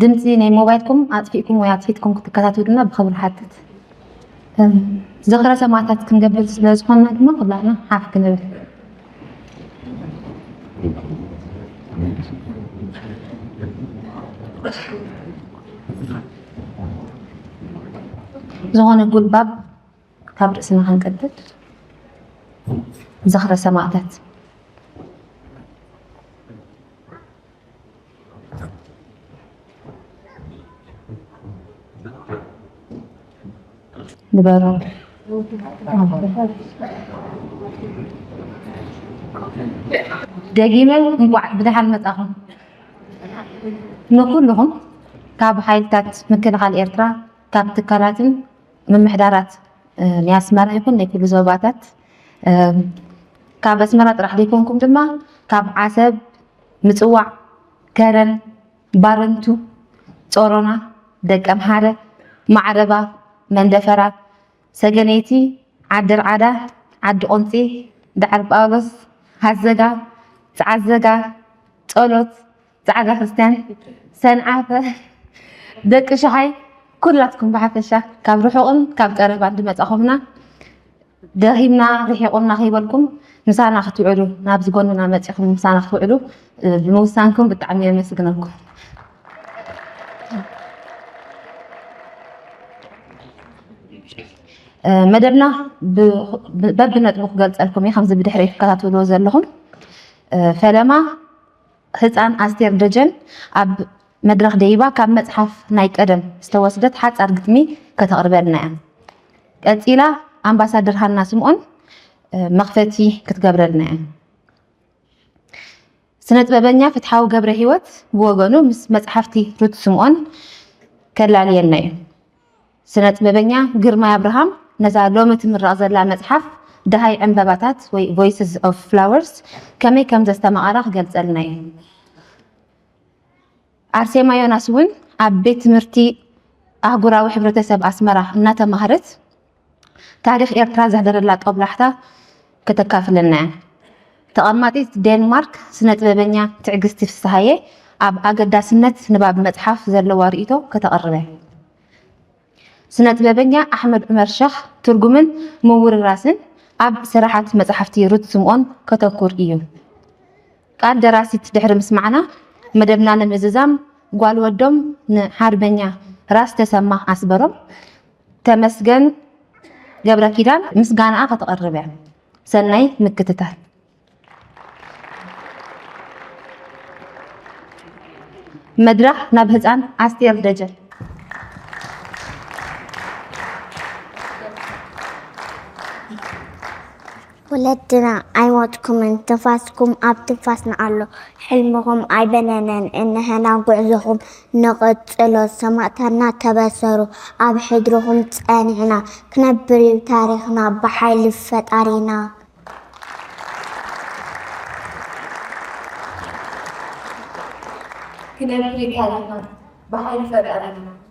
ድምጺ ናይ ሞባይልኩም ኣጥፊእኩም ወይ ኣጥፊትኩም ክትከታተሉና ብኽብሪ ንሓትት። ዝኽረ ሰማእታት ክንገብር ስለ ዝኾንና ድማ ኩላትና ሓፍ ክንብል ዝኾነ ጉልባብ ካብ ርእስና ክንቅድድ ዝኽረ ሰማእታት ንበሩ። ደጊመ እንቋዕ ብደሓን መጻኹም ንኩልኹም ካብ ሓይልታት ምክልኻል ኤርትራ ካብ ትካላትን ምምሕዳራት ናይ ኣስመራ ይኹን ናይ ኩሉ ዞባታት ካብ ኣስመራ ጥራሕ ዘይኮንኩም ድማ ካብ ዓሰብ፣ ምጽዋዕ፣ ከረን፣ ባረንቱ፣ ጾሮና፣ ደቀምሓረ፣ ማዕረባ፣ መንደፈራ፣ ሰገነይቲ፣ ዓደርዓዳ፣ ዓዲቁንጺ፣ ዳዕሮጳውሎስ፣ ሃዘጋ፣ ጸዓዘጋ፣ ጸሎት፣ ጻዕዳ ክርስትያን ሰንዓፈ ደቂ ሸሓይ ኩላትኩም ብሓፈሻ ካብ ርሑቕን ካብ ቀረባን ዝመጻኹምና ደኺምና ርሒቑና ከይበልኩም ምሳና ክትውዕሉ ናብዚ ጎንና መጺኹም ምሳና ክትውዕሉ ብምውሳንኩም ብጣዕሚ የመስግነኩም። መደብና በብነጥቡ ክገልጸልኩም እዩ ከምዚ ብድሕሪ ትከታተልዎ ዘለኹም ፈለማ ህጻን ኣስቴር ደጀን ኣብ መድረኽ ደይባ ካብ መጽሓፍ ናይ ቀደም ዝተወስደት ሓጻር ግጥሚ ከተቕርበልና'ያ። ቀጺላ ኣምባሳደር ሃና ስምኦን መኽፈቲ ክትገብረልና'ያ። ስነጥበበኛ ፍትሓዊ ገብረሂወት ብወገኑ ምስ መጽሓፍቲ ሩት ስምኦን ከላልየና'ዩ። ስነጥበበኛ ግርማይ ኣብርሃም ነዛ ሎሚ ትምረቕ ዘላ መጽሓፍ ደሃይ ዕንበባታት ወይ ቮይስስ ኦፍ ፍላወርስ ከመይ ከም ዘስተማቐራ ክገልጸልና እዩ። ኣርሴማ ዮናስ እውን ኣብ ቤት ትምህርቲ ኣህጉራዊ ሕብረተሰብ ኣስመራ እናተማህረት ታሪኽ ኤርትራ ዘሕደረላ ጦብላሕታ ከተካፍለና'ያ። ተቐማጢት ዴንማርክ ስነጥበበኛ ትዕግስቲ ፍስሃየ ኣብ ኣገዳስነት ንባብ መጽሓፍ ዘለዋ ርእይቶ ከተቕርበ። ስነጥበበኛ ኣሕመድ ዑመር ሸኽ ትርጉምን ምውርራስን ኣብ ስራሓት መጽሓፍቲ ሩት ስምኦን ከተኩር እዩ። ቃል ደራሲት ድሕሪ ምስማዕና መደብና ንምዝዛም ጓል ወዶም ንሓርበኛ ራስ ተሰማ ኣስበሮም ተመስገን ገብረኪዳን ምስጋናኣ ከተቕርብ እያ። ሰናይ ምክትታል። መድረኽ ናብ ህፃን ኣስቴር ደጀን ወለድና ኣይሞትኩምን ትንፋስኩም ኣብ ትንፋስና ኣሎ ሕልምኹም ኣይበነነን እንሀና ጉዕዞኹም ንቕጽሎ ሰማእታትና ተበሰሩ ኣብ ሕድርኹም ጸኒዕና ክነብርዩ ታሪኽና ብሓይሊ ፈጣሪና። ክነብርዩ ታሪኽና ብሓይሊ ፈጣሪና።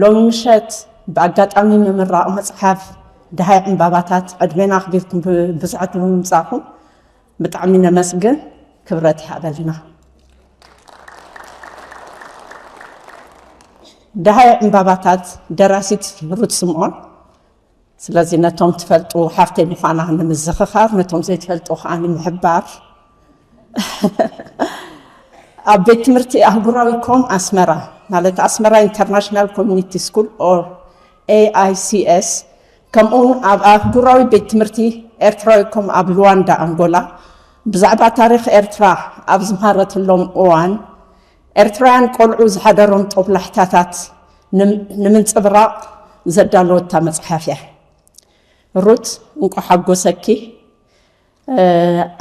ሎሚ ምሸት ብኣጋጣሚ ምምራቕ መጽሓፍ ደሃይ ዕምባባታት ዕድሜና ኣኽቢርኩም ብብዙሓት ብምምጻእኹም ብጣዕሚ ነመስግን። ክብረት ይሃበልና። ደሃይ ዕምባባታት ደራሲት ሩት ስምዖን ስለዚ ነቶም ትፈልጡ ሓፍተይ ምዃና ንምዝኽኻር ነቶም ዘይትፈልጡ ከዓ ንምሕባር ኣብ ቤት ትምህርቲ ኣህጉራዊ ኮም ኣስመራ ማለት ኣስመራ ኢንተርናሽናል ኮሚኒቲ ስኩል ኦር AICS ከምኡውን ኣብ ኣህጉራዊ ቤት ትምህርቲ ኤርትራዊ ኮም ኣብ ሉዋንዳ ኣንጎላ ብዛዕባ ታሪኽ ኤርትራ ኣብ ዝምሃረትሎም እዋን ኤርትራውያን ቆልዑ ዝሓደሮም ጦብላሕታታት ንምንጽብራቕ ዘዳለወታ መጽሓፍ እያ። ሩት እንቋዕ ሓጎሰኪ።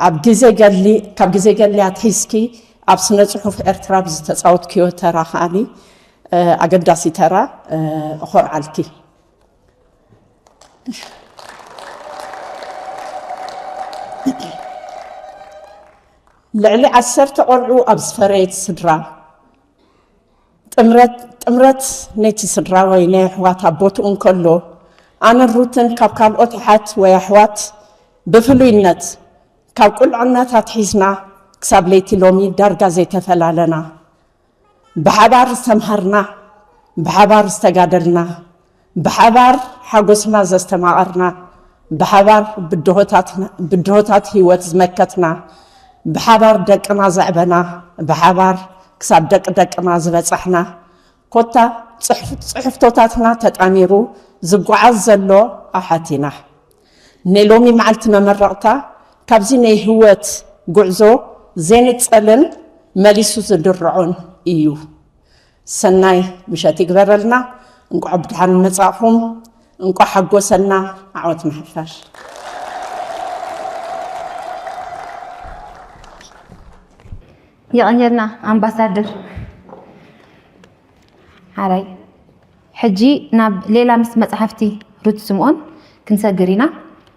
ኣብ ግዜ ገድሊ ካብ ግዜ ገድሊ ኣትሒዝኪ ኣብ ስነ ጽሑፍ ኤርትራ ብዝተጻወትክዮ ተራ ከኣ ኣገዳሲ ተራ እኾርዓልኪ። ልዕሊ ዓሰርተ ቆልዑ ኣብ ዝፈረየት ስድራ፣ ጥምረት ነቲ ስድራ ወይ ነየሕዋት ኣብ ቦትኡ እንከሎ፣ ኣነን ሩትን ካብ ካልኦት ኣሓት ወይ ኣሕዋት ብፍሉይነት ካብ ቁልዕነት ኣትሒዝና ክሳብ ለይቲ ሎሚ ዳርጋ ዘይተፈላለና። ብሓባር ዝተምሃርና፣ ብሓባር ዝተጋደልና፣ ብሓባር ሓጎስና ዘስተማቐርና፣ ብሓባር ብድሆታት ህይወት ዝመከትና፣ ብሓባር ደቅና ዘዕበና፣ ብሓባር ክሳብ ደቂ ደቅና ዝበፃሕና፣ ኮታ ፅሕፍቶታትና ተጣሚሩ ዝጓዓዝ ዘሎ ኣሓት ኢና። ናይ ሎሚ መዓልቲ መመረቕታ ካብዚ ናይ ህይወት ጉዕዞ ዜንጸልን መሊሱ ዝድርዖን እዩ። ሰናይ ምሸት ይግበረልና። እንቋዕ ብድሓን መጻእኹም። እንቋዕ ሓጎሰና። ዓወት ንሓፋሽ። የቐንየልና ኣምባሳደር ሓራይ። ሕጂ ናብ ሌላ ምስ መጻሕፍቲ ሩት ስምኦን ክንሰግር ኢና።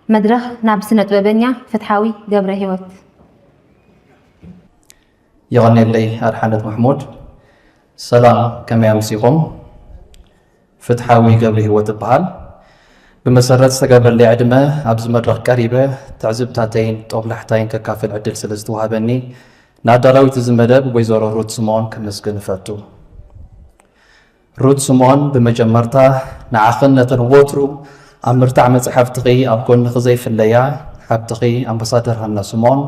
መድረኽ ናብ ስነጥበበኛ ፍትሓዊ ገብረሂወት። የቐኔለይ ኣድሓነት ማሕሙድ። ሰላም ከመይ ኣምሲኹም? ፍትሓዊ ገብሪሂወት እብሃል። ብመሰረት ዝተገብረለይ ዕድመ ኣብዚ መድረኽ ቀሪበ ትዕዝብታተይን ጦብላሕታይን ከካፍል ዕድል ስለ ዝተዋህበኒ ንኣዳላዊት እዚ መደብ ወይዘሮ ሩት ስምኦን ከመስግን እፈቱ። ሩት ስምኦን ብመጀመርታ ንዓኽን ነተን ወትሩ ኣብ ምርታዕ መጽሓፍትኺ ኣብ ጎንኺ ዘይፍለያ ሓብትኺ ኣምባሳደር ሃና ስምኦን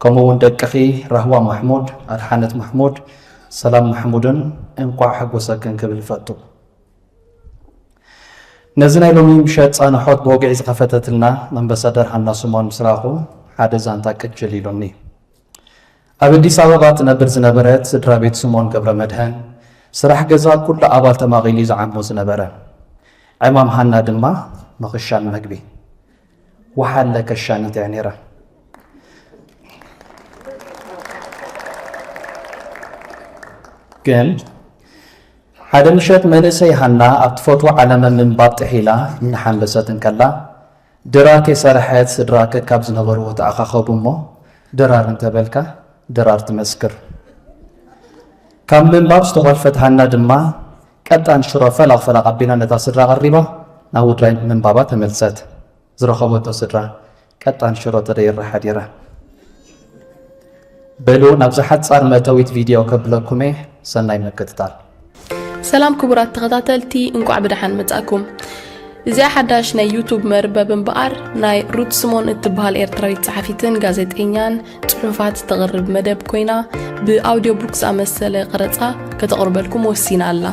ከምኡ እውን ደቅኺ ራህዋ ማሕሙድ፣ ኣድሓነት ማሕሙድ፣ ሰላም ማሕሙድን እንቋዕ ሓጎሰክን ክብል ይፈቱ። ነዚ ናይ ሎሚ ምሸት ጻንሖት ብወግዒ ዝኸፈተትልና ኣምባሳደር ሃና ስምኦን ምስ ረኣኹ ሓደ ዛንታ ቅጅል ኢሉኒ። ኣብ ኣዲስ ኣበባ ትነብር ዝነበረት ስድራ ቤት ስምኦን ገብረመድህን ስራሕ ገዛ ኩሉ ኣባል ተማቒሉ እዩ ዝዓሞ ዝነበረ። ዕማም ሃና ድማ ምኽሻን መግቢ፣ ወሓለ፣ ከሻኒት እያ ነይራ። ግን ሓደ ምሸት መንእሰይ ሃና ኣብ ትፈትዎ ዓለመ ምንባብ ጥሒላ እናሓንበሰት እንከላ ድራር ከይሰረሐት ስድራ ከካብ ዝነበርዎ ተኣኻኸቡ እሞ ድራር እንተበልካ ድራር ትመስክር ካብ ምንባብ ዝተኾልፈት ሃና ድማ ቀጣን ሽሮ ፈላቕ ፈላቕ ኣቢላ ነታ ስድራ ኣቐሪባ ናብ ውድራይ ምንባባ ተመልሰት። ዝረኸበቶ ስድራ ቀጣን ሽሮ ተደይራ ሓዲራ። በሉ ናብዛ ሓጻር መእተዊት ቪድዮ ከብለኩም'የ ሰናይ ምክትታል። ሰላም ክቡራት ተኸታተልቲ እንቋዕ ብደሓን መጻእኩም። እዚኣ ሓዳሽ ናይ ዩቱብ መርበብ እምበኣር ናይ ሩት ስሞን እትበሃል ኤርትራዊት ጸሓፊትን ጋዜጠኛን ጽሑፋት ዝተቕርብ መደብ ኮይና ብኣውዲዮ ቡክ ዝኣመሰለ ቕረጻ ከተቕርበልኩም ወሲና ኣላ።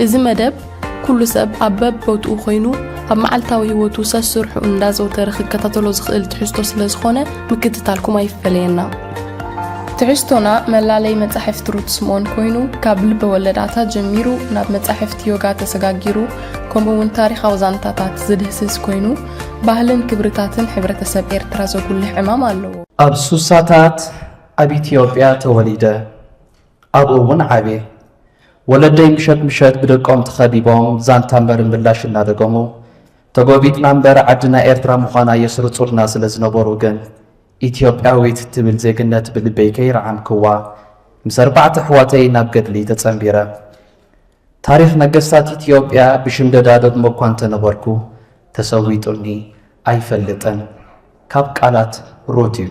እዚ መደብ ኩሉ ሰብ ኣብ በብቦትኡ ኮይኑ ኣብ መዓልታዊ ህይወቱ ሰስርሑ እንዳዘውተረ ክከታተሎ ዝኽእል ትሕዝቶ ስለ ዝኾነ ምክትታልኩም ኣይፈለየና። ትሕዝቶና መላለይ መጻሕፍቲ ሩት ስምኦን ኮይኑ ካብ ልበ ወለዳታ ጀሚሩ ናብ መጻሕፍቲ ዮጋ ተሰጋጊሩ ከምኡ እውን ታሪኻዊ ዛንታታት ዝድህስስ ኮይኑ ባህልን ክብርታትን ሕብረተሰብ ኤርትራ ዘጉልሕ ዕማም ኣለዎ። ኣብ ሱሳታት ኣብ ኢትዮጵያ ተወሊደ። ኣብኡ እውን ዓብየ። ወለደይ ምሸት ምሸት ብደቆም ተኸቢቦም ዛንታ እምበር ምላሽ እናደገሙ፣ ተጎቢጥና እምበር ዓድና ኤርትራ ምዃና የስርጹልና ስለ ዝነበሩ ግን ኢትዮጵያዊት እትብል ዜግነት ብልበይ ከይረዓምክዋ ምስ ኣርባዕተ ኣሕዋተይ ናብ ገድሊ ተጸንቢረ። ታሪኽ ነገስታት ኢትዮጵያ ብሽምደዳ እደግሞ እኳ እንተነበርኩ ተሰዊጡኒ ኣይፈልጥን ካብ ቃላት ሩት እዩ።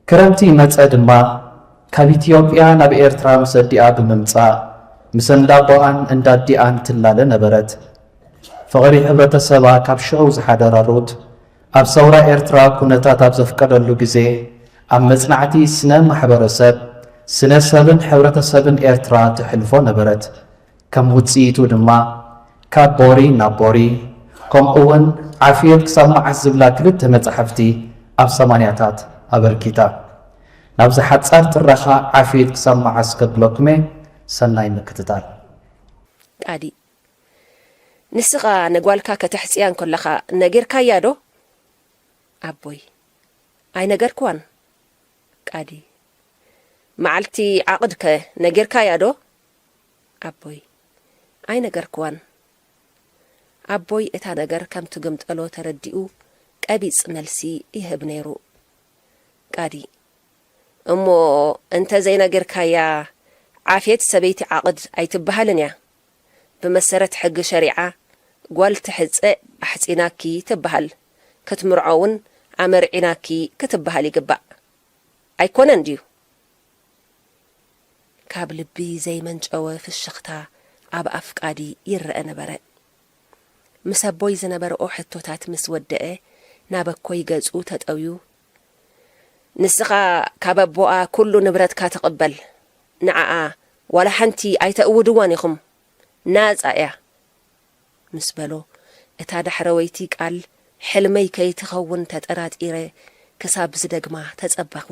ክረምቲ መጸ ድማ ካብ ኢትዮጵያ ናብ ኤርትራ ምስ ኣዲኣ ብምምጻእ ምስ እንዳቦኣን እንዳዲኣን ትላለ ነበረት። ፍቕሪ ሕብረተሰባ ካብ ሽዑ ዝሓደራ ሩት ኣብ ሰውራ ኤርትራ ኩነታት ኣብ ዘፍቀደሉ ግዜ ኣብ መጽናዕቲ ስነ ማሕበረሰብ፣ ስነ ሰብን ሕብረተሰብን ኤርትራ ተሕልፎ ነበረት። ከም ውጽኢቱ ድማ ካብ ቦሪ ናብ ቦሪ ከምኡ'ውን ዓፍዮት ክሳብ መዓስ ዝብላ ክልተ መጻሕፍቲ ኣብ ሰማንያታት ኣበርኪታ። ናብዚ ሓጻር ትረኻ ዓፍዮት ክሳብ መዓስ ከብለኩም'የ፣ ሰናይ ምክትታል። ቃዲ ንስኻ ንጓልካ ከተሕጽያ እንከለኻ ነጊርካያ ዶ? ኣቦይ ኣይነገርክዋን። ቃዲ መዓልቲ ዓቕድ'ከ ነጊርካያ ዶ? ኣቦይ። ኣይነገርክዋን። ኣቦይ እታ ነገር ከም ትግምጠሎ ተረዲኡ ቀቢጽ መልሲ ይህብ ነይሩ። ቃዲ። እሞ እንተ ዘይነጊርካያ ዓፌት ሰበይቲ ዓቕድ ኣይትብሃልን እያ። ብመሰረት ሕጊ ሸሪዓ ጓል ትሕጸ ኣሕጺናኪ ትብሃል፣ ክትምርዖ ውን ኣመርዒናኪ ክትብሃል ይግባእ። ኣይኮነን ድዩ? ካብ ልቢ ዘይመንጨወ ፍሽኽታ ኣብ ኣፍቃዲ ይረኣ ነበረ። ምስ ኣቦይ ዝነበርኦ ሕቶታት ምስ ወደኣ ናብ ኣኮይ ገጹ ተጠውዩ፣ ንስኻ ካብ ኣቦኣ ኩሉ ንብረትካ ትቕበል፣ ንዓኣ ዋላ ሓንቲ ኣይተእውድዋን ኢኹም፣ ናጻ ኢያ። ምስ በሎ፣ እታ ዳሕረወይቲ ቃል ሕልመይ ከይትኸውን ተጠራጢረ ክሳብ ዝደግማ ተጸበኹ።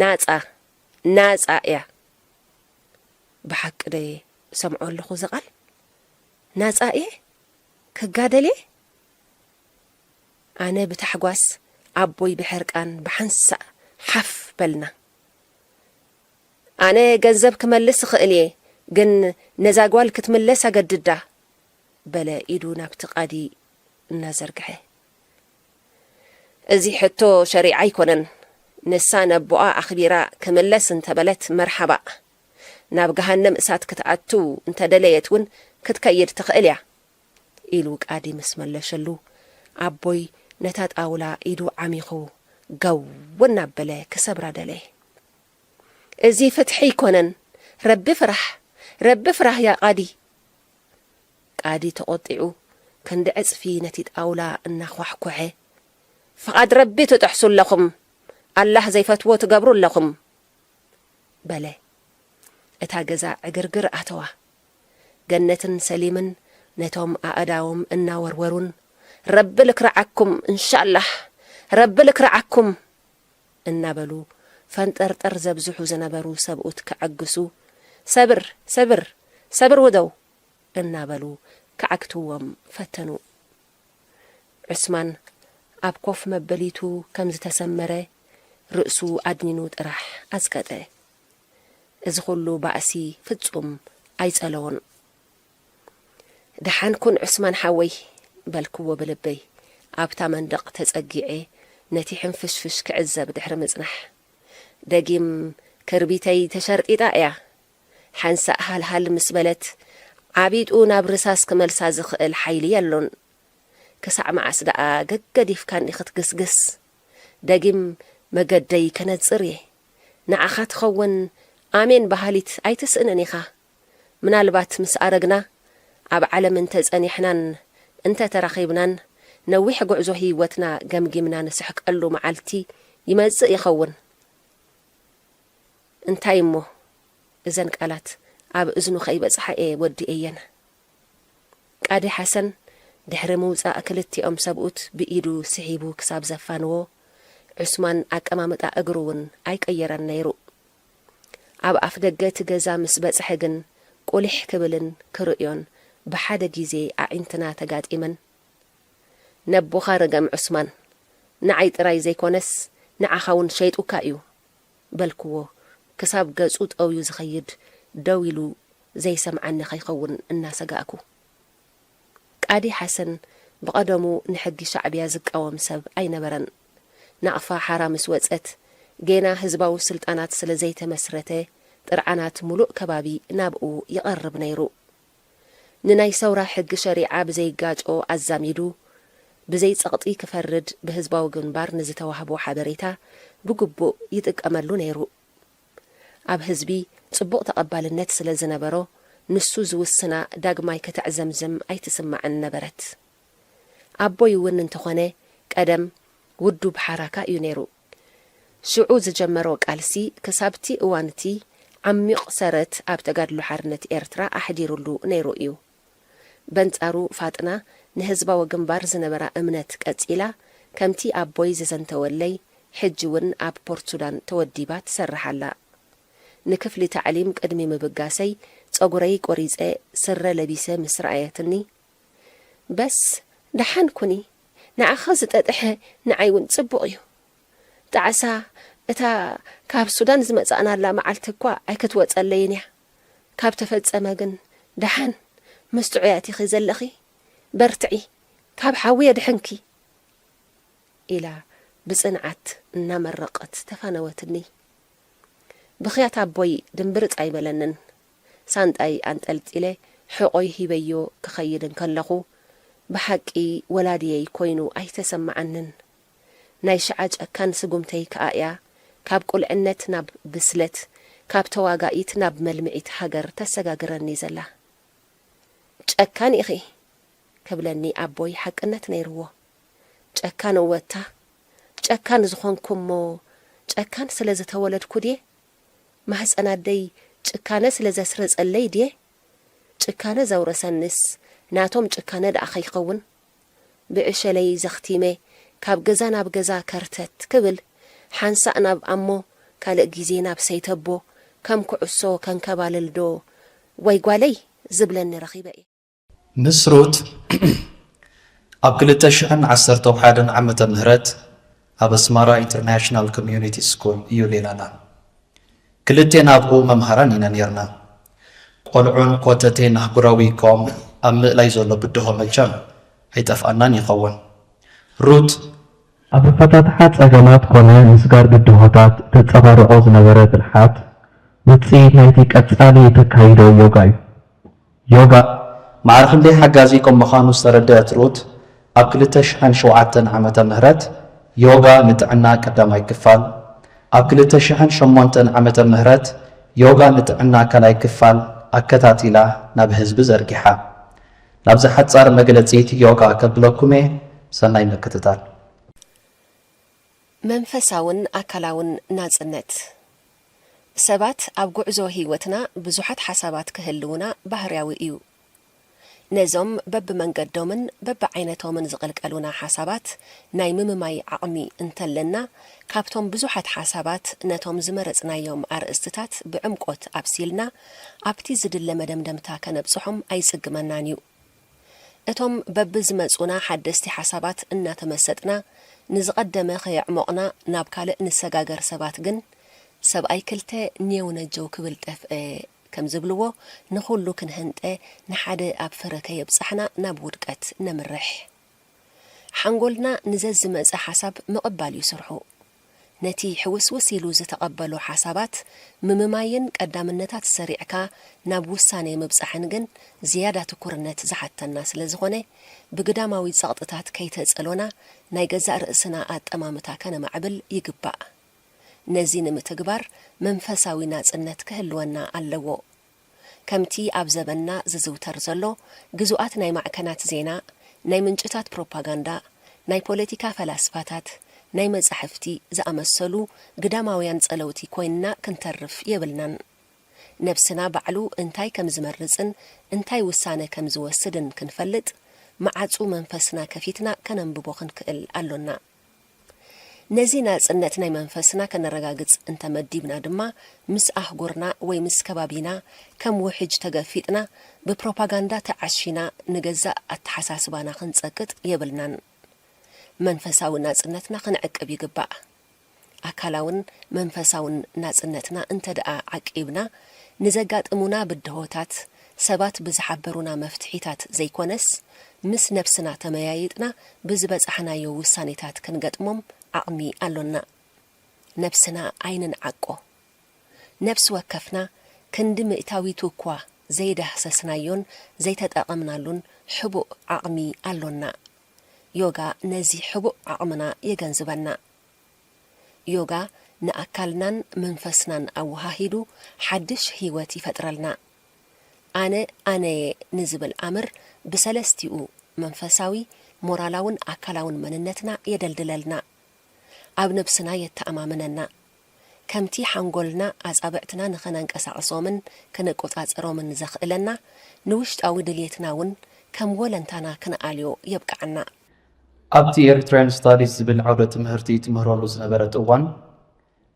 ናጻ ናጻ እያ ብሓቂ ዶ እየ ዝሰምዖ ኣለኹ እዚ ቃል ናጻ እየ ክጋደል እየ ኣነ ብታሕጓስ ኣቦይ ብሕርቃን ብሓንሳእ ሓፍ በልና ኣነ ገንዘብ ክመልስ እኽእል እየ ግን ነዛ ጓል ክትምለስ ኣገድዳ በለ ኢዱ ናብቲ ቃዲ እናዘርግሐ እዚ ሕቶ ሸሪዓ ኣይኮነን ንሳ ነቦኣ ኣኽቢራ ክምለስ እንተበለት መርሓባእ ናብ ገሃነም እሳት ክትኣቱ እንተደለየት እውን ክትከይድ ትኽእል እያ ኢሉ ቃዲ ምስ መለሸሉ ኣቦይ ነታ ጣውላ ኢዱ ዓሚኹ ገው እናበለ ክሰብራ ደለየ እዚ ፍትሒ ኣይኮነን ረቢ ፍራሕ ረቢ ፍራህ ያቃዲ ቃዲ ተቖጢዑ ክንዲ ዕጽፊ ነቲ ጣውላ እናዃሕኮሐ። ፍቓድ ረቢ ትጥሕሱ ኣለኹም፣ ኣላህ ዘይፈትዎ ትገብሩ ኣለኹም። በለ። እታ ገዛ ዕግርግር ኣተዋ። ገነትን ሰሊምን ነቶም ኣእዳዎም እናወርወሩን ረቢ ልክርዓኩም እንሻላህ ረቢ ልክርዓኩም እናበሉ ፈንጠርጠር ዘብዝሑ ዝነበሩ ሰብኡት ከዐግሱ ሰብር ሰብር ሰብር ውደው እናበሉ ክዓግትዎም ፈተኑ። ዑስማን ኣብ ኮፍ መበሊቱ ከም ዝተሰመረ ርእሱ ኣድኒኑ ጥራሕ ኣጽቀጠ። እዚ ኹሉ ባእሲ ፍጹም ኣይጸለዎን። ደሓን ኩን ዑስማን ሓወይ! በልክዎ ብልበይ ኣብታ መንደቕ ተጸጊዐ ነቲ ሕንፍሽፍሽ ክዕዘብ ድሕሪ ምጽናሕ። ደጊም ክርቢተይ ተሸርጢጣ እያ ሓንሳእ ሃልሃል ምስ በለት ዓቢጡ ናብ ርሳስ ክመልሳ ዝኽእል ሓይሊ የሎን። ክሳዕ መዓስ ደኣ ገገዲፍካኒ ክትግስግስ? ደጊም መገደይ ከነጽር እየ። ንዓኻ ትኸውን ኣሜን በሃሊት ኣይትስእንን ኢኻ። ምናልባት ምስ ኣረግና፣ ኣብ ዓለም እንተ ጸኒሕናን እንተ ተራኺብናን ነዊሕ ጉዕዞ ህይወትና ገምጊምና ንስሕቀሉ መዓልቲ ይመጽእ ይኸውን። እንታይ እሞ እዘን ቃላት ኣብ እዝኑ ከይበጽሓ እየ ወዲኤየን። ቃዲ ሓሰን ድሕሪ ምውጻእ ክልቲኦም ሰብኡት ብኢዱ ስሒቡ ክሳብ ዘፋንዎ፣ ዑስማን ኣቀማምጣ እግሩ እውን ኣይቀየረን ነይሩ። ኣብ ኣፍደገ እቲ ገዛ ምስ በጽሐ ግን ቁሊሕ ክብልን ክርእዮን ብሓደ ግዜ ኣዒንትና ተጋጢመን። ነቦኻ ርገም ዑስማን፣ ንዓይ ጥራይ ዘይኮነስ ንዓኻውን ሸይጡካ እዩ፣ በልክዎ ክሳብ ገጹ ጠውዩ ዝኸይድ ደው ኢሉ ዘይሰምዓኒ ከይኸውን እናሰጋእኩ። ቃዲ ሓሰን ብቐደሙ ንሕጊ ሻዕብያ ዝቃወም ሰብ ኣይነበረን። ናቕፋ ሓራ ምስ ወጸት ጌና ህዝባዊ ስልጣናት ስለ ዘይተመስረተ ጥርዓናት ሙሉእ ከባቢ ናብኡ ይቐርብ ነይሩ። ንናይ ሰውራ ሕጊ ሸሪዓ ብዘይጋጮ ኣዛሚዱ ብዘይ ጸቕጢ ክፈርድ ብህዝባዊ ግንባር ንዝተዋህቦ ሓበሬታ ብግቡእ ይጥቀመሉ ነይሩ። ኣብ ህዝቢ ጽቡቕ ተቐባልነት ስለ ዝነበሮ ንሱ ዝውስና ዳግማይ ከተዕዘምዝም ኣይትስማዕን ነበረት። ኣቦይ እውን እንተኾነ ቀደም ውዱብ ሓራካ እዩ ነይሩ። ሽዑ ዝጀመሮ ቃልሲ ክሳብ'ቲ እዋን'ቲ ዓሚቕ ሰረት ኣብ ተጋድሎ ሓርነት ኤርትራ ኣሕዲሩሉ ነይሩ እዩ። በንጻሩ ፋጥና ንህዝባዊ ግንባር ዝነበራ እምነት ቀጺላ ከምቲ ኣቦይ ዘዘንተወለይ ሕጂ'ውን ኣብ ፖርትሱዳን ተወዲባ ትሰርሕ ኣላ። ንክፍሊ ታዕሊም ቅድሚ ምብጋሰይ ጸጉረይ ቆሪጸ ስረ ለቢሰ ምስ ረኣየትኒ፣ በስ ደሓን ኩኒ ንዓኺ ዝጠጥሐ ንዓይ ውን ጽቡቕ እዩ ጣዕሳ እታ ካብ ሱዳን ዝመጻእናላ መዓልቲ እኳ ኣይክትወጸለይን እያ ካብ ተፈጸመ ግን ደሓን ምስ ጥዑያት ኢኺ ዘለኺ በርትዒ ካብ ሓዊ የድሕንኪ ኢላ ብጽንዓት እናመረቐት ተፋነወትኒ ብኽያት ኣቦይ ድምብርጽ ኣይበለንን ሳንጣይ ኣንጠልጢለ ሕቖይ ሂበዮ ክኸይድ እንከለኹ፣ ብሓቂ ወላድየይ ኮይኑ ኣይተሰመዓንን። ናይ ሽዓ ጨካን ስጉምተይ ከኣ'ያ ካብ ቁልዕነት ናብ ብስለት፣ ካብ ተዋጋኢት ናብ መልምዒት ሃገር ተሰጋግረኒ ዘላ። ጨካን ኢኺ! ክብለኒ ኣቦይ ሓቅነት ነይርዎ። ጨካን እወ'ታ፣ ጨካን ዝኾንኩ'ሞ ጨካን ስለ ዝተወለድኩ ድየ? ማህጸን ኣደይ ጭካነ ስለ ዘስረጸለይ ድየ ጭካነ ዘውረሰኒስ ናቶም ጭካነ ድኣ ከይከውን ብዕሸለይ ዘኽቲመ ካብ ገዛ ናብ ገዛ ከርተት ክብል ሓንሳእ ናብ ኣሞ ካልእ ግዜ ናብ ሰይተቦ ከም ኩዕሶ ከንከባልል ዶ ወይ ጓለይ ዝብለኒ ረኺበ እየ። ምስ ሩት ኣብ ክልተ ሽሕን ዓሰርተው ሓደን ዓመተ ምህረት ኣብ ኣስማራ ኢንተርናሽናል ኮሚዩኒቲ ስኩል እዩ ሌላና። ክልቴና ኣብኡ መምሃራን ኢና ኔርና። ቆልዑን ኮተቴን ኣህጉራዊ ኮም ኣብ ምእላይ ዘሎ ብድሆ መቸም ኣይጠፍኣናን ይኸውን። ሩት። ኣብ ኣፈታትሓ ጸገማት ኮነ ምስጋር ብድሆታት እተጸባርቖ ዝነበረ ብልሓት፣ ውጽኢት ናይቲ ቀጻሊ እተካይዶ ዮጋ'ዩ። ዮጋ ማዕረ ክንደይ ሓጋዚ ከም ምዃኑ ዝተረድኣት ሩት፣ ኣብ ክልተ ሽሕን ሸውዓተን ዓመተ ምህረት ዮጋ ንጥዕና ቀዳማይ ክፋል፣ ኣብ ክልተ ሽሕን ሸሞንተን ዓመተ ምህረት ዮጋ ንጥዕና ካልኣይ ክፋል ኣከታቲላ ናብ ህዝቢ ዘርጊሓ። ናብዛ ሓጻር መግለጺት ዮጋ ከብለኩም'የ፣ ሰናይ ምክትታል። መንፈሳውን ኣካላውን ናጽነት! ሰባት ኣብ ጉዕዞ ህይወትና ብዙሓት ሓሳባት ክህልዉና ባህርያዊ እዩ። ነዞም በብመንገዶምን በብዓይነቶምን ዝቕልቀሉና ሓሳባት ናይ ምምማይ ዓቕሚ እንተለና፣ ካብቶም ብዙሓት ሓሳባት ነቶም ዝመረጽናዮም ኣርእስትታት ብዕምቆት ኣብሲልና ኣብቲ ዝድለ መደምደምታ ከነብጽሖም ኣይጽግመናን እዩ። እቶም በብዝመጹና ሓደስቲ ሓሳባት እናተመሰጥና ንዝቐደመ ከየዕሞቕና ናብ ካልእ ንሰጋገር ሰባት ግን፣ ሰብኣይ ክልተ ኔው ነጀው ክብል ጠፍኤ ከም ዝብልዎ፣ ንኹሉ ክንህንጠ ንሓደ ኣብ ፍረ ከየብጻሕና ናብ ውድቀት ነምርሕ። ሓንጎልና ንዘዝመጸ ሓሳብ ምቕባል እዩ ስርሑ። ነቲ ሕውስውስ ኢሉ ዝተቐበሎ ሓሳባት ምምማይን ቀዳምነታት ሰሪዕካ ናብ ውሳኔ ምብጻሕን ግን ዝያዳ ትኩርነት ዝሓተና ስለ ዝኾነ፣ ብግዳማዊ ጸቕጥታት ከይተጸሎና ናይ ገዛእ ርእስና ኣጠማምታ ከነማዕብል ይግባእ። ነዚ ንምትግባር መንፈሳዊ ናጽነት ክህልወና ኣለዎ። ከምቲ ኣብ ዘበንና ዝዝውተር ዘሎ፣ ግዙኣት ናይ ማዕከናት ዜና፣ ናይ ምንጭታት ፕሮፓጋንዳ፣ ናይ ፖለቲካ ፈላስፋታት፣ ናይ መጻሕፍቲ ዝኣመሰሉ ግዳማውያን ጸለውቲ ኮይንና ክንተርፍ የብልናን። ነብስና ባዕሉ እንታይ ከም ዝመርጽን እንታይ ውሳነ ከም ዝወስድን ክንፈልጥ፣ መዓጹ መንፈስና ከፊትና ከነንብቦ ክንክእል ኣሎና። ነዚ ናጽነት ናይ መንፈስና ከነረጋግጽ እንተ መዲብና ድማ፣ ምስ ኣህጉርና ወይ ምስ ከባቢና ከም ውሕጅ ተገፊጥና፣ ብፕሮፓጋንዳ ተዓሺና ንገዛእ ኣተሓሳስባና ክንጸቅጥ የብልናን። መንፈሳዊ ናጽነትና ክንዕቅብ ይግባእ። ኣካላውን መንፈሳውን ናጽነትና እንተድኣ ዓቂብና፣ ንዘጋጥሙና ብድሆታት ሰባት ብዝሓበሩና መፍትሒታት ዘይኮነስ፣ ምስ ነብስና ተመያይጥና ብዝበጻሕናዮ ውሳኔታት ክንገጥሞም ዓቕሚ ኣሎና። ነብስና ኣይንንዓቆ። ነብሲ ወከፍና ክንዲ ሚእታዊቱ እኳ ዘይዳህሰስናዮን ዘይተጠቐምናሉን ሕቡእ ዓቕሚ ኣሎና። ዮጋ ነዚ ሕቡእ ዓቕምና የገንዝበና። ዮጋ ንኣካልናን መንፈስናን ኣወሃሂዱ ሓድሽ ህይወት ይፈጥረልና። ኣነ ኣነ'የ ንዝብል ኣምር ብሰለስቲኡ፣ መንፈሳዊ፣ ሞራላውን ኣካላውን መንነትና የደልድለልና። ኣብ ነብስና የተኣማምነና። ከምቲ ሓንጎልና ኣጻብዕትና ንኸነንቀሳቕሶምን ከነቆጻጽሮምን ዘኽእለና፣ ንውሽጣዊ ድልየትና'ውን ከም ወለንታና ክንኣልዮ የብቅዓና። ኣብቲ ኤሪትሪያን ስታዲስ ዝብል ዓውደ ትምህርቲ ትምህረሉ ዝነበረት እዋን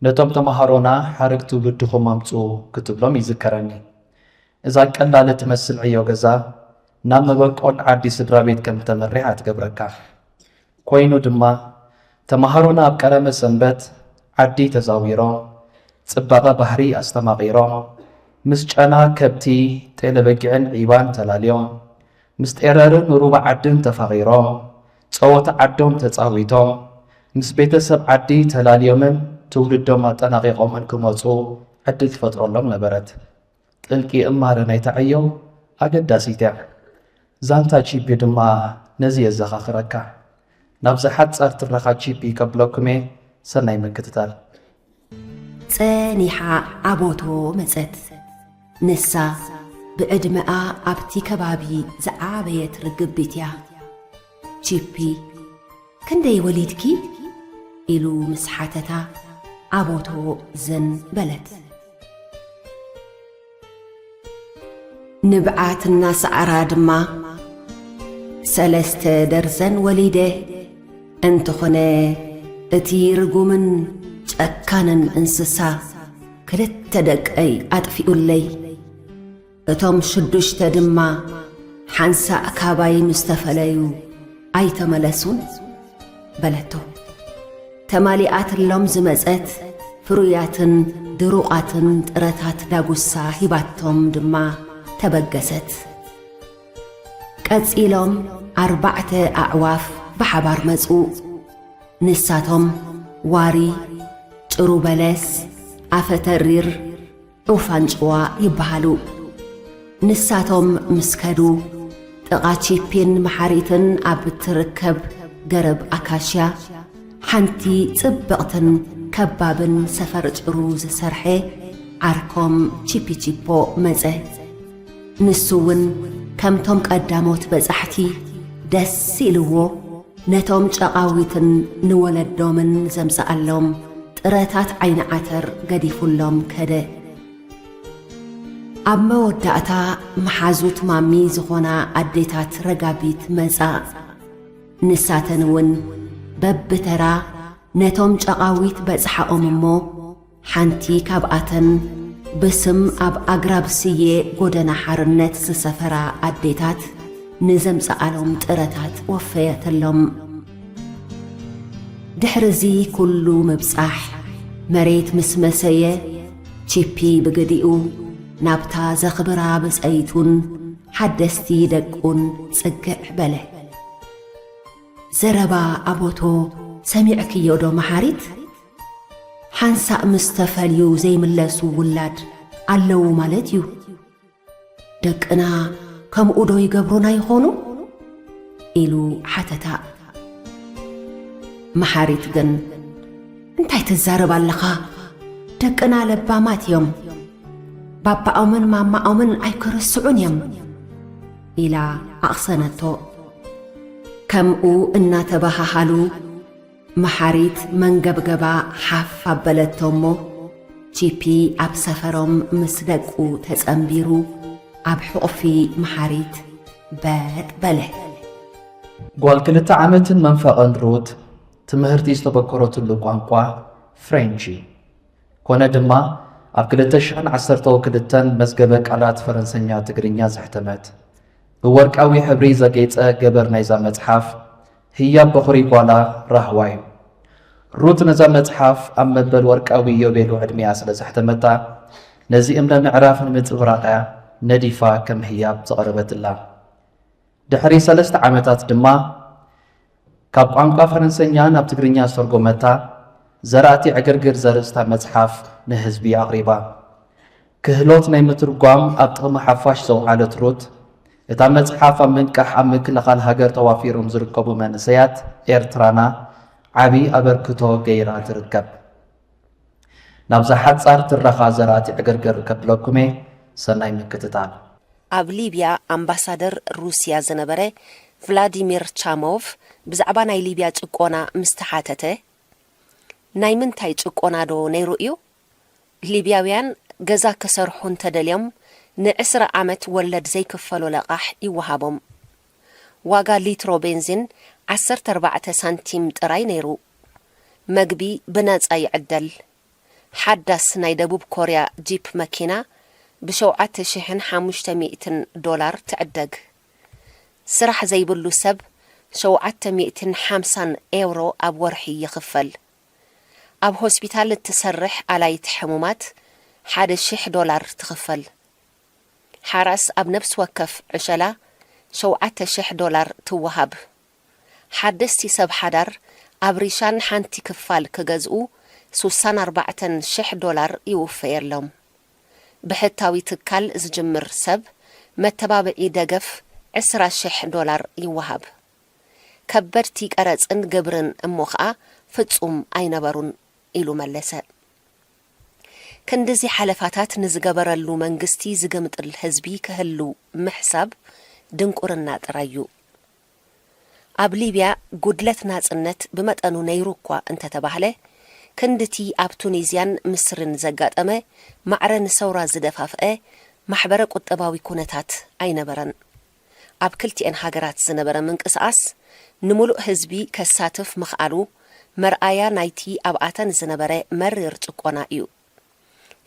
ነቶም ተማሃሮና ሓረግ ትውልድኹም ኣምጽኡ ክትብሎም ይዝከረኒ። እዛ ቀላል እትመስል ዕዮ ገዛ ናብ መበቆል ዓዲ ስድራቤት ከም እተመርሕ ኣትገብረካ። ኮይኑ ድማ ተማሃሮና ኣብ ቀረመ ሰንበት ዓዲ ተዛዊሮም ጽባቐ ባህሪ ኣስተማቒሮም ምስ ጨና ከብቲ ጤለበጊዕን ዒባን ተላልዮም ምስ ጤረርን ሩባ ዓድን ተፋቒሮም፣ ጸወታ ዓዶም ተጻዊቶም፣ ምስ ቤተሰብ ዓዲ ተላልዮምን ትውልዶም ኣጠናቒቖምን ክመጹ ዕድል ትፈጥረሎም ነበረት። ጥልቂ እማረ ናይታ ዕዮ ኣገዳሲት'ያ። ዛንታ ቺፒ ድማ ነዚ የዘኻኽረካ። ናብዛ ሓጻር ትረኻ ቺፒ ከብለኩም'የ ሰናይ ምክትታል። ጸኒሓ ኣቦቶ መጸት። ንሳ ብዕድመኣ ኣብቲ ከባቢ ዝዓበየት ርግቢት'ያ። ቺፒ ክንደይ ወሊድኪ? ኢሉ ምስ ሓተታ ኣቦቶ ዝን በለት። ንብዓት እናሰዓራ ድማ ሰለስተ ደርዘን ወሊደ፣ እንተኾነ እቲ ርጉምን ጨካንን እንስሳ ክልተ ደቀይ ኣጥፊኡለይ። እቶም ሽዱሽተ ድማ ሓንሳእ ካባይ ምስ ተፈለዩ ኣይተመለሱን። በለቶ። ተማሊኣትሎም ዝመጸት ፍሩያትን ድሩቓትን ጥረታት ዳጉሳ ሂባቶም ድማ ተበገሰት። ቀጺሎም ኣርባዕተ ኣዕዋፍ ብሓባር መጹ። ንሳቶም ዋሪ፣ ጭሩ በለስ፣ ኣፈ ተሪር፣ ዑፍ ኣንጭዋ ይበሃሉ። ንሳቶም ምስ ከዱ፣ ጥቓ ቺፒን መሓሪትን ኣብ እትርከብ ገረብ ኣካሽያ፣ ሓንቲ ጽብቕትን ከባብን ሰፈር ጭሩ ዝሰርሐ ዓርኮም ቺፒቺፖ መጸ። ንሱ እውን ከምቶም ቀዳሞት በጻሕቲ ደስ ኢልዎ ነቶም ጨቓዊትን ንወለዶምን ዘምጽኣሎም ጥረታት ዓይኒ ዓተር ገዲፉሎም ከደ። ኣብ መወዳእታ መሓዙት ማሚ ዝኾና ኣዴታት ረጋቢት መጻ። ንሳተን እውን በብተራ ነቶም ጨቓዊት በጽሓኦም እሞ፣ ሓንቲ ካብኣተን በስም ኣብ ኣግራብ ስየ ጎደና ሓርነት ዝሰፈራ ኣዴታት ንዘምጸኣሎም ጥረታት ወፈየትሎም። ድሕሪ'ዚ ኩሉ ምብጻሕ፣ መሬት ምስ መሰየ፣ ቺፒ ብግዲኡ፣ ናብታ ዘኽብራ ብጸይቱን ሓደስቲ ደቁን ጽግዕ በለ። ዘረባ ኣቦቶ ሰሚዕክዮዶ መሓሪት? ሓንሳእ ምስ ተፈልዩ ዘይምለሱ ውላድ ኣለዉ ማለት እዩ። ደቅና ከምኡዶ ይገብሩና ይኾኑ? ኢሉ ሓተታ። መሓሪት ግን እንታይ ትዛረብ ኣለኻ? ደቅና ለባማት እዮም። ባባኦምን ማማኦምን ኣይክርስዑን እዮም። ኢላ ኣቕሰነቶ። ከምኡ እናተበሃሃሉ፣ መሓሪት መንገብገባ ሓፍ ኣበለቶ እሞ፣ ቺፒ ኣብ ሰፈሮም ምስ ደቁ ተጸንቢሩ ኣብ ሕቝፊ መሓሪት በጥ በለ። ጓል ክልተ ዓመትን መንፈቕን ሩት፣ ትምህርቲ ዝተበኰረትሉ ቋንቋ ፍሬንች እዩ። ኰነ ድማ፣ ኣብ ክልተ ሽሕን ዓሰርተው ክልተን መዝገበ ቃላት ፈረንሰኛ-ትግርኛ ዘሕተመት፣ ብወርቃዊ ሕብሪ ዘጌጸ ገበር ናይዛ መጽሓፍ፣ ህያብ በዅሪ ጓላ ራህዋ እዩ። ሩት ነዛ መጽሓፍ ኣብ መበል ወርቃዊ ዮቤሉ ዕድሜኣ ስለ ዘሕተመታ፣ ነዚ እምነ ምዕራፍ ንምጽብራቕ እያ ነዲፋ ከም ህያብ ዘቕረበትላ። ድሕሪ ሰለስተ ዓመታት ድማ ካብ ቋንቋ ፈረንሰኛ ናብ ትግርኛ ዝተርጎመታ ዘራእቲ ዕግርግር ዘርእስታ መጽሓፍ ንህዝቢ ኣቕሪባ። ክህሎት ናይ ምትርጓም ኣብ ጥቕሚ ሓፋሽ ዘውዓለት ሩት፣ እታ መጽሓፍ ኣብ ምንቃሕ ኣብ ምክልኻል ሃገር ተዋፊሮም ዝርከቡ መንእሰያት ኤርትራና ዓቢ ኣበርክቶ ገይራ ትርከብ። ናብዛ ሓጻር ትረኻ ዘራቲ ዕግርግር ከብለኩም'የ፣ ሰናይ ምክትታል። ኣብ ሊብያ ኣምባሳደር ሩስያ ዝነበረ ቭላዲሚር ቻሞቭ ብዛዕባ ናይ ሊብያ ጭቆና ምስ ተሓተተ፣ ናይ ምንታይ ጭቆናዶ ነይሩ እዩ? ሊብያውያን ገዛ ክሰርሑ እንተደልዮም ንዕስራ ዓመት ወለድ ዘይክፈሎ ለቓሕ ይወሃቦም። ዋጋ ሊትሮ ቤንዚን ዓሰርተ ኣርባዕተ ሳንቲም ጥራይ ነይሩ። መግቢ ብናጻ ይዕደል። ሓዳስ ናይ ደቡብ ኮርያ ጂፕ መኪና ብሸውዓተ ሽሕን ሓሙሽተ ሚእትን ዶላር ትዕደግ። ስራሕ ዘይብሉ ሰብ ሸውዓተ ሚእትን ሓምሳን ኤውሮ ኣብ ወርሒ ይኽፈል። ኣብ ሆስፒታል እትሰርሕ ኣላዪት ሕሙማት ሓደ ሽሕ ዶላር ትኽፈል። ሓራስ ኣብ ነብሲ ወከፍ ዕሸላ ሸውዓተ ሽሕ ዶላር ትወሃብ። ሓደስቲ ሰብ ሓዳር ኣብ ሪሻን ሓንቲ ክፋል ክገዝኡ ሱሳን ኣርባዕተን ሽሕ ዶላር ይውፈየሎም። ብሕታዊ ትካል ዝጅምር ሰብ መተባብዒ ደገፍ ዕስራ ሽሕ ዶላር ይወሃብ። ከበድቲ ቀረጽን ግብርን እሞ ኸኣ ፍጹም ኣይነበሩን ኢሉ መለሰ። ክንድዚ ሓለፋታት ንዝገበረሉ መንግስቲ ዝግምጥል ህዝቢ ክህሉ ምሕሳብ ድንቁርና ጥራይ እዩ። ኣብ ሊብያ ጉድለት ናጽነት ብመጠኑ ነይሩ እኳ እንተተባህለ፣ ክንድቲ ኣብ ቱኒዝያን ምስርን ዘጋጠመ ማዕረ ንሰውራ ዝደፋፍአ ማሕበረ-ቁጠባዊ ኩነታት ኣይነበረን። ኣብ ክልቲኤን ሃገራት ዝነበረ ምንቅስቓስ ንምሉእ ህዝቢ ከሳትፍ ምኽኣሉ መርኣያ ናይቲ ኣብኣተን ዝነበረ መሪር ጭቆና እዩ።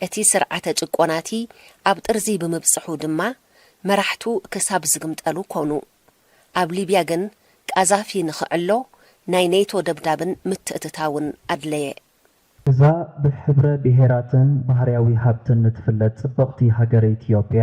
እቲ ስርዓተ ጭቆናቲ ኣብ ጥርዚ ብምብጽሑ ድማ መራሕቱ ክሳብ ዝግምጠሉ ኮኑ። ኣብ ሊብያ ግን ቃዛፊ ንኽዕሎ ናይ ኔቶ ደብዳብን ምትእትታውን ኣድለየ። እዛ ብሕብረ ብሄራትን ባህርያዊ ሃብትን እትፍለጥ ጽብቕቲ ሃገረ ኢትዮጵያ፣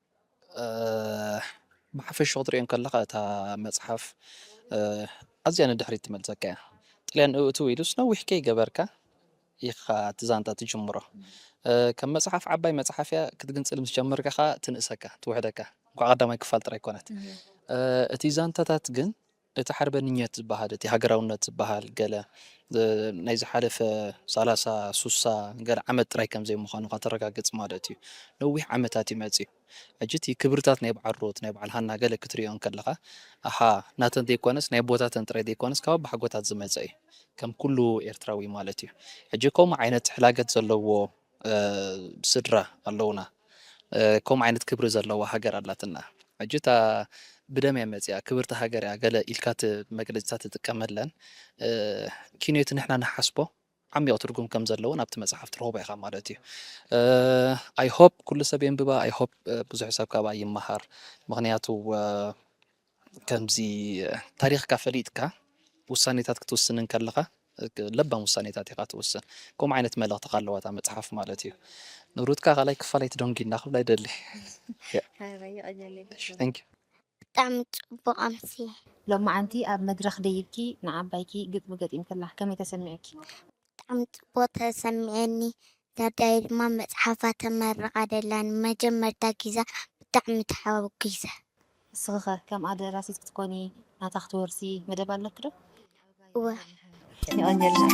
ብሓፈሽኡ ክትሪኦ ከለኻ እታ መጽሓፍ ኣዝያ ንድሕሪት ትመልሰካ እያ። ጥልያን እእትው ኢሉስ ነዊሕ ከይገበርካ ኢኻ እቲ ዛንታ ትጅምሮ። ከም መጽሓፍ ዓባይ መጽሓፍ እያ፣ ክትግንጽል ምስ ጀመርካ ኸኣ ትንእሰካ፣ ትውሕደካ። እንቋዕ ቀዳማይ ክፋል ጥራይ ኮነት። እቲ ዛንታታት ግን እቲ ሓርበንኘት ዝበሃል እቲ ሃገራውነት ዝበሃል ገለ ናይ ዝሓለፈ ሳላሳ ሱሳ ገለ ዓመት ጥራይ ከም ዘይምዃኑ ከተረጋግጽ ማለት እዩ ነዊሕ ዓመታት እዩ መጺኡ ሕጂ እቲ ክብርታት ናይ በዓል ሩት ናይ በዓል ሃና ገለ ክትርእዮ እንከለኻ ኣሃ ናተን ዘይኮነስ ናይ ኣቦታተን ጥራይ ዘይኮነስ ካብ ኣባሓጎታት ዝመጸ እዩ ከም ኩሉ ኤርትራዊ ማለት እዩ ሕጂ ከምኡ ዓይነት ሕላገት ዘለዎ ስድራ ኣለውና ከምኡ ዓይነት ክብሪ ዘለዋ ሃገር ኣላትና ሕጂ እታ ብደም እያ መጺኣ ክብርቲ ሃገር እያ ገለ ኢልካ እቲ መግለጺታት ትጥቀመለን ኪንዮ እቲ ንሕና ንሓስቦ ዓሚቕ ትርጉም ከም ዘለዎ ናብቲ መጽሓፍ ትረኽቦ ኢኻ ማለት እዩ ኣይ ሆፕ ኩሉ ሰብ የንብባ ኣይ ሆፕ ብዙሕ ሰብ ካብኣ ይመሃር ምኽንያቱ ከምዚ ታሪኽካ ፈሊጥካ ውሳኔታት ክትውስን እንከለኻ ለባም ውሳኔታት ኢኻ ትውስን። ከምኡ ዓይነት መልእኽቲ ኣለዋ እታ መጽሓፍ ማለት እዩ። ንብሩትካ ካልኣይ ክፋል ኣይትደንጉይና ክብላ ይደሊ። ብጣዕሚ ጽቡቕ ኣምሲ። ሎማዓንቲ ኣብ መድረኽ ደይብኪ ንዓባይኪ ግጥሚ ገጢምክላ ከመይ ተሰሚዑኪ? ብጣዕሚ ጽቡቅ ተሰሚዕኒ ዳዳየ ድማ መጽሓፋ ተመርቃ ደላ ንመጀመርታ ጊዛ ብጣዕሚ ተሓጉሰ። ንስኺ ከ ከምኣ ደራሲት ክትኮኒ ናታ ክትወርሲ መደብ ኣለኪ ዶ? እወ። የቐንየልና።